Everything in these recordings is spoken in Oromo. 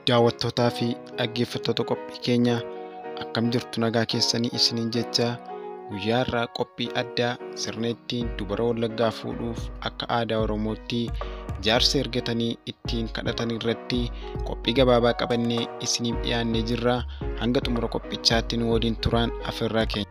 daawwattootaa fi dhaggeeffattoota qophii keenya akkam jirtu nagaa keessanii isiniin jecha guyyaa irraa qophii addaa sirna ittiin dubara wallaggaa fuudhuuf akka aadaa oromootti jaarsa ergatanii ittiin kadhatan irratti qophii gabaabaa qabannee isiniif dhiyaannee jirra hanga xumura qophichaatti nu waliin turaan afeerraa keenya.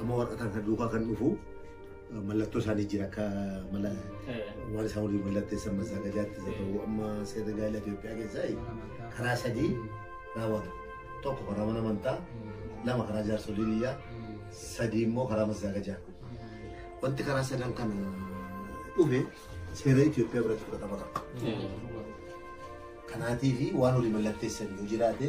Amma warra kan kan duukaa kan dhufu eh, mallattoo isaanii jira akka mala waan isaan waliin mallatteessan masaagajaatti isa ta'u amma seera gaa'ela Itoophiyaa keessaa eh, karaa sadii raawwata. Tokko karaa mana amantaa, lama karaa jaarsolii biyyaa, sadii immoo karaa masaagajaa. Wanti karaa sadan kana dhufe seera Itoophiyaa biratti fudhatama qaba. Kanaatiif waan waliin mallatteessan yoo jiraate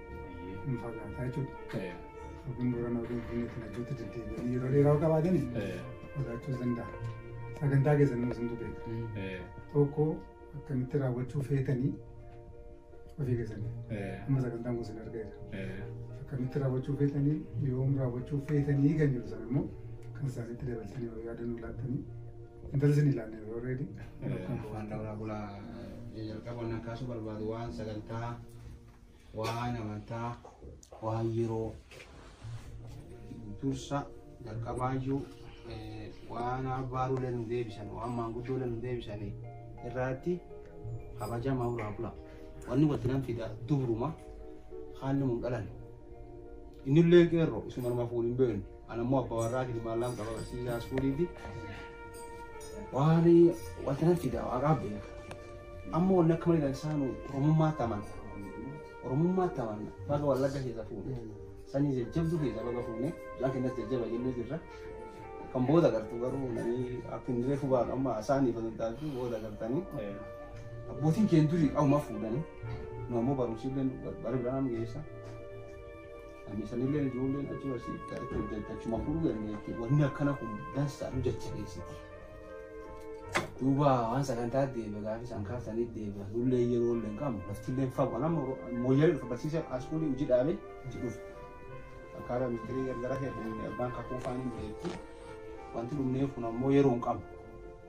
hin fagaata jechuudha. Yookiin Boorana yookiin Finfinneetti lachootti deddeebi'anii yeroo dheeraa yoo qabaatanii fagaachuus danda'a. Sagantaa keessan immoo isintu beeka. Tokko akkamitti raawwachuu feetanii ofii keessanii amma sagantaan kun isin argeera. Akkamitti raawwachuu feetanii yoom raawwachuu feetanii kan jiru sana immoo kan isaanitti dabaltanii yoo yaadan ulaattanii intalli isin ilaalle yeroo reedi. Afaan Dawulaa Bulaa jalqaba wannan kaasuu barbaadu waan sagantaa Waan amantaa, waan yeroo dursa jalqabaayyuu eh, waan abbaaruulee nu deebisan, waan maanguddoolee nu deebisan irraatti kabajama irraa bula. Wanni walitti nan fida dubruma haalli mun dhalan. Innillee qeerroo isuma namaaf waliin beeknu. Ana immoo abbaa warraa fi ilmaan lama qaba barsiisaa iskuuliiti. Waan wanti nan fidaa waaqaa beeka. Amma wanni akka malee dansaanu Oromummaatti amana. Oromummaatti amana. Baga wallagga keessa fuune. Sanii jajjabduu keessa baga fuune. Isaan kennas jajjaba jennee jirra. Kan booda gartu garuu namni akka hin reefu baatu amma isaaniif hin taatu booda gartanii. Abbootiin keenya durii qabumaa fuudhanii. Nu ammoo barumsi illee bara biraan geessa. Ani sanillee ijoolleen achi barsiifta itti hojjechaa achuma fuudhuu dandeetti. Wanni akkana kun dansaa nu jajjabeessiti. Duuba waan sagantaa deebi'a gaafa isaan kaasanii deebi'a. Nullee yeroo illee hin qabnu laftillee hin fagu. Anam mooyyalee dhufa barsiisee askuulii hojii dhaabee itti dhufa. Akkaataa ministeerii gargara ta'e abbaan kakuu faanii beekti. Wanti dhumneef kun ammoo yeroo hin qabnu.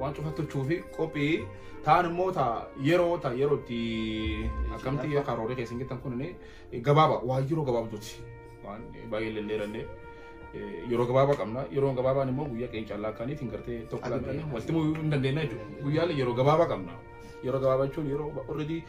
waan cufa tolchuu fi qophii ta'an immoo ta yeroo ta yeroo itti akkamti karoorri keessan jettan kun gabaaba waan yeroo gabaabduuti waan baay'ee lelleerannee yeroo gabaabaa qabna yeroo gabaabaan immoo guyyaa keenya callaa akkaaniitiin gartee tokko laannee walitti muu hin dandeenya jechuudha guyyaan yeroo gabaabaa qabna yeroo gabaabaa jechuun yeroo already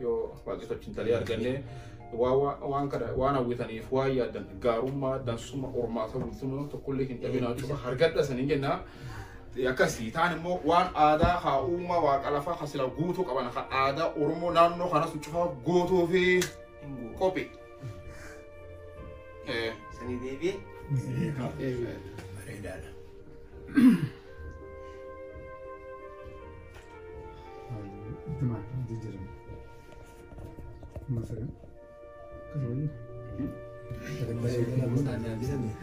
Yoo waaqeffachuun talee argannee waa- waa- waan kana waan hawwitaniif waan yaaddan gaarummaa dansummaa hormaata bultummaa tokkollee hin dhabinaa cufa hargadha saniin jenna. Akkasii taan immoo waan aadaa haa uumaa waaqa lafaa kan sila guutuu qaban kan aadaa Oromoo naannoo kanas cufa guutuu fi qophii. Eh, Sanii deebi'e. Bareedaadha. Ittuma jijjiirame. Masaka. Akkasumas.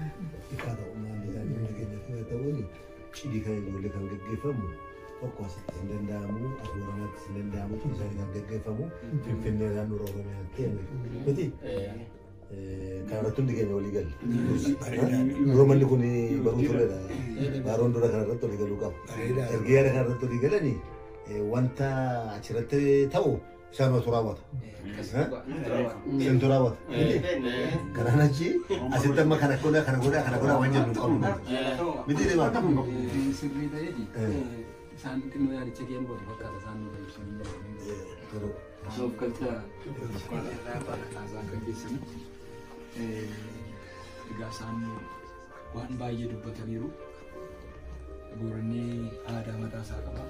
Cidii kan ijoollee kan gaggeeffamu tokko asitti hin danda'amu, as Booranaattis hin danda'amu, tun isaanii kan gaggeeffamu Finfinnee naannoo Oromiyaatti miti. Kan irratti hundi keenya walii galle. Dura manni kun baruu turedha. Baaroon dura kan irratti walii galuu qaba. Erga yaada kan irratti walii galanii wanta achirratti ta'u isaan watu raawwata. Isintu raawwata. Kanaan achi asitti amma kana godha kana godha kana godha waan jennu hin qabnu. Miti deemaa. Sirrii ta'eeti. Isaan xinnoo yaadicha kee hubatu fakkaata isaan nu kan ibsan hin dandeenye. Osoo of galcha irraa baala kaasaa akka keessanitti egaa isaan waan baay'ee dubbataniiru. Booranni aadaa mataa isaa qaba.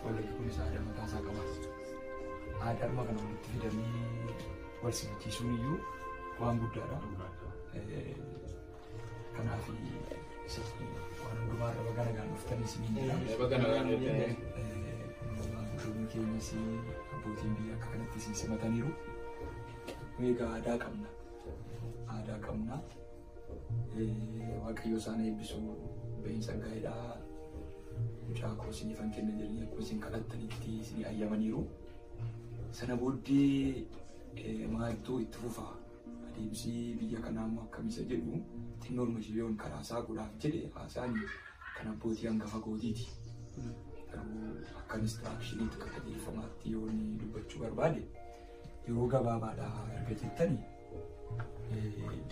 Wallaggi kunis aadaa mataa isaa qaba. Aadaa arma kana walitti fidanii wal simachiisuun iyyuu waan guddaadha. Kanaaf isatti waan hundumaa irra baga nagaan dhuftanii isiniin jedha. Baga nagaan dhuftanii. Maanguddoonni keenyas abbootiin biyya akka kanatti isin simataniiru. Nu egaa aadaa qabna. Aadaa qabna. Waaqayyo isaan eebbisu bahiinsa gaa'elaa mucaa koo isiniifan kenna jedhanii akkuma isin kadhattanitti isin ayyamaniiru. Sana booddee maaltu itti fufaa? Adeemsi biyya kanaa immoo akkam isa jedhu xinnoon Mashiliyoon karaa isaa godhaaf jedhe haasaan kan abbootii hangafa kootiiti. Garuu akka inistiraakshiniitti akka qajeelfamaatti yoo inni dubbachuu barbaade yeroo gabaabaadhaa erga jettani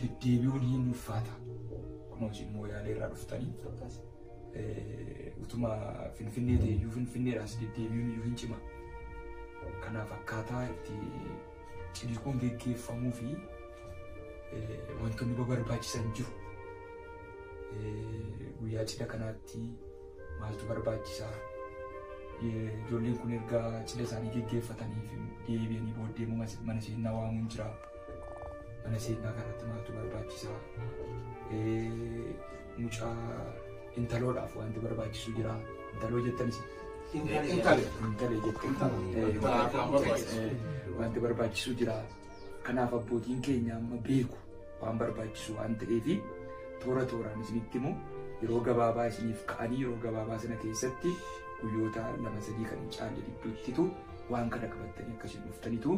deddeebi'uun hin ulfaata. Akkuma isin mooyaalee irraa dhuftanii utuma finfinnee ta'e iyyuu finfinneedhaas deddeebi'uun iyyuu hin cima. Kanaaf akkaataa itti ciniquun geggeeffamuu fi wantoonni barbaachisan jiru. Guyyaa cidha kanaatti maaltu barbaachisaa? Ijoolleen kun erga cidha isaanii geggeeffatanii fi deebi'anii booddee immoo mana seenaa waamuun jira. Mana seenaa kanatti maaltu barbaachisaa? Mucaa intaloodhaaf wanti barbaachisu jira. Intaloo jettanis. Intalee jettee. Wanti barbaachisu jira. Kanaaf abbootiin keenya amma beeku waan barbaachisu waan ta'eef toora tooraan isinitti himu yeroo gabaabaa isiniif ka'anii yeroo gabaabaa sana keessatti guyyoota lama sadii kan hin caalle gidduuttitu waan kana qabattanii akkasiin dhuftanitu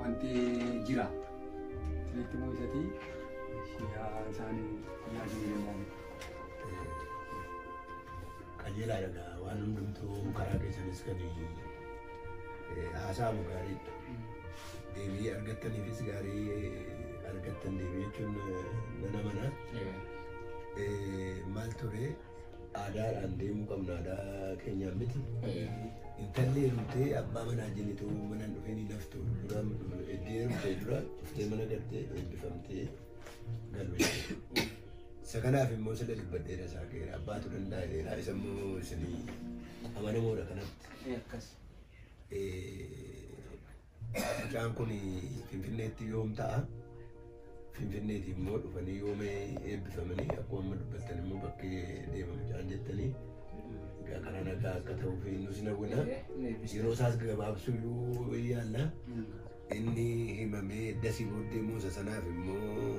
wanti jira isinitti immoo isatii yaa isaan yaa jireenya qajeelaa dhaga waan hundumtuu karaa keessanis kan haasa'amu gaariidha. Deebii argattaniifis gaarii argattan deebii jechuun nana mana maal ture Aadaadhaan deemuu qabna aadaa keenyaan miti. Intalli heerumtee abbaa manaa jenituu mana hin dhufeen hin haftu. Duraan eddii heerumtee dura dhuftee mana galtee eebbifamtee galu jechuudha. Isa kanaaf immoo sila dubbadheera isaa keera abbaatu danda'eera isa immoo isinii amanamoodha kanatti. Akkas. Eh, Mucaan kun Finfinneetti yoom ta'a? Finfinneetti immoo dhufanii yoom eebbifamanii akkuma amma dubbattan immoo bakki deema mucaan jettanii egaa karaa nagaa akka ta'uu fi nus nawwina yeroo isaas gabaabsuu iyyuu yaalla inni himamee dasii booddee muusa sanaaf immoo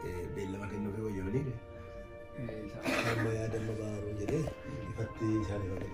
eh, beellama kennuufi wayyamanii amma yaadamma baaruu jedhee ifatti isaan himamee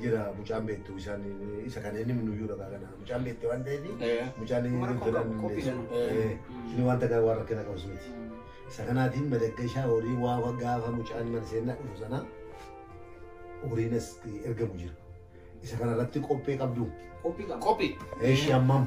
jira mucaan beektu isaan isa kana inni nuyyuu dhagaa kana mucaan beekte waan ta'eef mucaan inni waan takka waan rakkina qabus miti. Isa kanaatiin madaggashaa horii waa gaafa mucaan mana seenaa dhufu sana horiin as ergamu jira. Isa kanarratti qophee qabdu. Qophii. Eeshi hammam.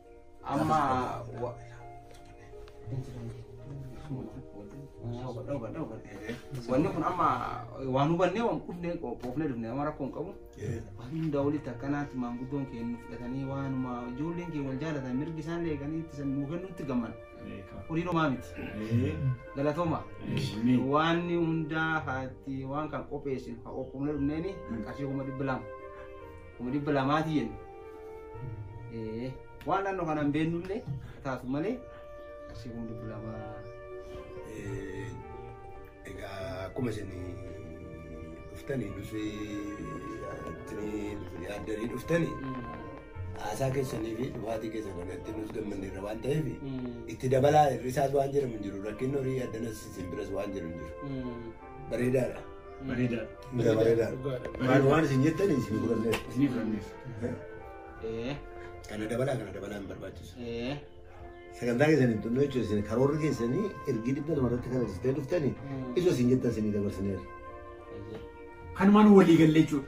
Amma wa- wanni kun amma waan hubannee waan qufnee qoofnee dhufne amma rakkoo hin qabu. Waan hundaa walitti akkanaatti maanguddoon keenya nu fudhatanii waanuma ijoolleen keenya wal jaalatan mirgi isaan eeganii itti san nuu kennuutti gamman. Horii homaa miti. Galatooma. Waan hundaa haatti waan kan qopheessin haa qophoofnee dhufneeni qarshii kuma dhibba lama. kuma dhibba lamaati jennu. Eh, Waan naannoo kana hin beennullee taatu malee qarshii kuma dhibba lamaa. Eh, Egaa akkuma isin dhuftanii nuti ittini yaaddanii dhuftanii haasaa keessanii fi dhufaatii keessan kanatti nus gammanne irra waan ta'eef itti dabalaa hir'isaas waan jedhamu hin jiru rakkinni horii addanas isin biras waan jedhu hin jiru. Bareedaadha. Bareedaadha. Gara bareedaadha. Dhugaadha. Maal waan isin jettan isin fudhanneef. Isinii fudhanneef. Ee. Kana dabalaa kana dabalaa hin barbaachisu. Ee. Sagantaa keessan hin xumne jechuun isin karoorri keessanii ergi dhibba lama irratti kana dhistee dhuftanii isa isin jettan isinii dabarsineera. Kanumaan walii gallee jechuudha.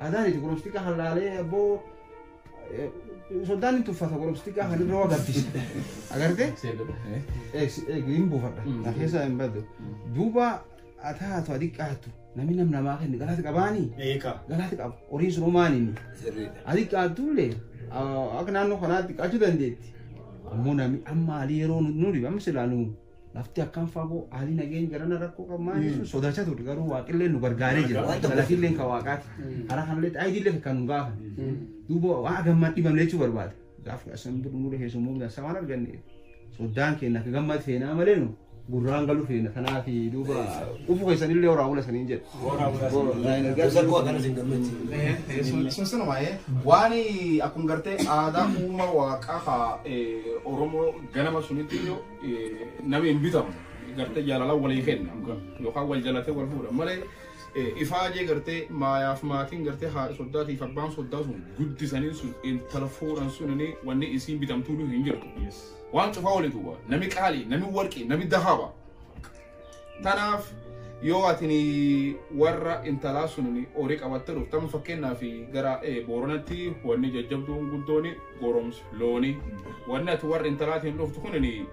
Adaan itti goromsi xiqqaa kan laalee abboo soddaan hin tuffata goromsi xiqqaa kan irra agarsiisa. Agartee? Hin buufadha. Na keessa hin baddu. Duuba haa taatu haa xiqqaattu namni nam namaa kenni galaati qabaanii? Eekaa. Galaati qaba. Horiin sun homaa nini. Sirriidha. Haa xiqqaattu illee akka naannoo kanaa xiqqaachuu dandeetti. Ammoo namni amma haalii yeroo nu dhibe amma silaa nu Lafti akkam fagoo haalli nageenya garana rakkoo qabu maal jechuun sodaachaa turre garuu waaqillee nu gargaaree jira. Waan tokko Galatillee kan waaqaati. Karaa kanallee ayidiillee kan nu gaafan. Duuba waan gammaan dhibamne jechuu barbaada. Gaaf asan birri nurra keessummoo midhaan waan arganneef soddaan keenya akka gammad feenaa malee nu gurraan galu feena. Kanaaf duuba dhufu keessanillee horaa bula saniin jedha. Gorsa koo akkanas hin gammachiisu. sun sun waa'ee waan akkuma gartee aadaa uuma waaqaa ka Oromoo ganama sunitti iyyuu Nami hin bitamu. Gartee jaalala walii kenna. Yookaan wal jalatee wal fuudha. Malee ifaajee gartee maayaaf maatiin gartee haadha soddaatiif abbaan soddaa sun guddisanii sun intala fuudhan sun wanni isiin bitamtuu hin jirtu. Waan cufaa walitu waa. Nami qaali, nami warqii, nami dahaba. Tanaaf yoo atini warra intalaa sunini horii qabattee dhuftamu fakkeenyaaf gara eh, booranatti wanni jajjabduun guddoon goromsa looni wanni ati warra intalaatiin dhuftu kunini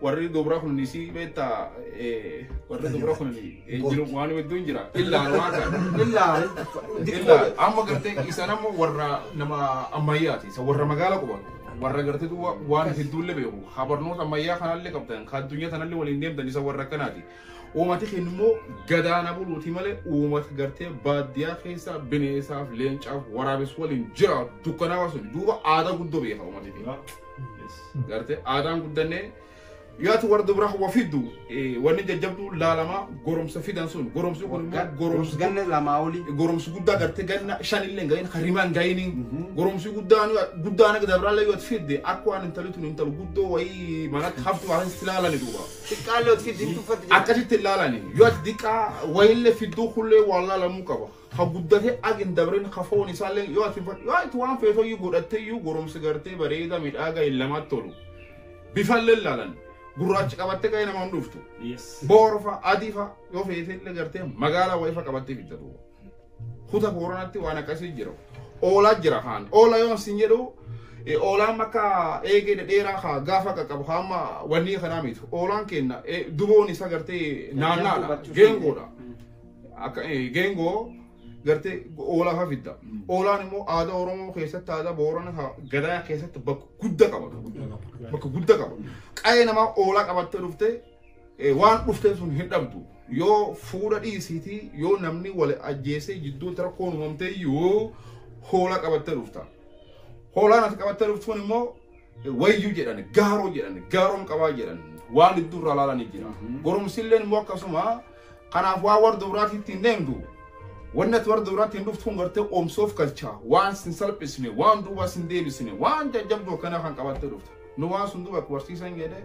warri dubra kun isii beetta eh, warri dubra kun eh, jiru waan hedduun jira illaa waan kana illaa illaa amma gartee isan ammoo warra nama ammayyaati isa warra magaala qubatu warra gartee duuba waan isin duulle beeku ha barnoota ammayyaa kanallee qabdan ka addunyaa tanallee waliin deemtan isa warra akkanaati uumati keenya immoo gadaana buluuti malee uumata gartee baadiyyaa keessa bineensaaf leencaaf waraabes waliin jira dukkanaa sun duuba aadaa guddoo beeka uumati keenya gartee aadaan guddannee Yaati warra dubraa wa fiddu wanni jajjabduu laalama goromsa fidan sun goromsi kun immoo goromsi ganna lamaa olii goromsi guddaa gartee ganna shanillee gahin harimaan gahini goromsi guddaan guddaan akka dabraallee yoo fidde akka waan intali tun intal guddoo wayii manatti haftu waan itti laalani duuba xiqqaallee ot fiddi hin tuffatti jira akkasitti laalani yoo ati diqqaa wayillee fidduu kullee waan laalamuu qaba. ka guddate ag hin dabrin ka foon isaallee yoo ati yoo ati waan feetoyyuu godhatteyyuu goromsi gartee bareeda midhaaga hin lamatti tolu bifallee laalan gurraachi qabatte ga'ee nama hin dhuftu Yes. boorfa adifa yoo feetellee gartee magaalaa wayifa qabattee fitta duuba kuta booranatti waan akkasii jira oolaa jira kaan oola yoon sin jedhu eh, oolaan makka eegee dhedheeraa kaa gaafa qaqqabu kaa amma wannii kanaa miti oolaan kenna eh, duboon isa gartee naannaadha geengoodha Mm. Akka eh, geengoo gartee oolaa faa fidda. Oolaan immoo aadaa Oromoo keessatti aadaa Boorana ka gadaa keessatti bakka guddaa qaba. Bakka guddaa qaba. Qa'ee namaa oolaa qabattee dhuftee eh, waan dhufteen sun hin dhabdu. Yoo fuudha dhiisiitii yoo namni wal ajjeesee jidduutti rakkoon uumamtee iyyuu hoolaa qabattee dhufta. Hoolaan ati qabattee dhuftuun immoo Wayyu jedhan, gaaroo jedhan, gaaroon qabaa jedhan waan hedduu irraa laalanii jira. Mhm. Goromsilleen immoo akkasuma kanaaf waan warra dubraatti ittiin deemtu wanni ati warra dubraatti hin dhuftu kun gartee oomsoof galchaa waan sin salphisne waan duubaa sin deebisne waan jajjabdu akkana kan qabattee dhuftu. Nu waan sun duuba akka barsiisan jedhee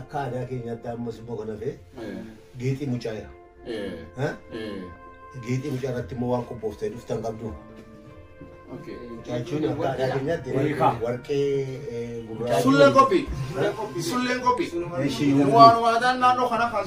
Akka aadaa keenyaatti ammas immoo kan hafe geexii mucaa jira. Geexii mucaa irratti immoo waan qophooftee dhuftan qabdu. Jechuun akka aadaa keenyaatti warqee gurraacha. Sulleen qophii. Sulleen qophii. Waan waadaan naannoo kana kan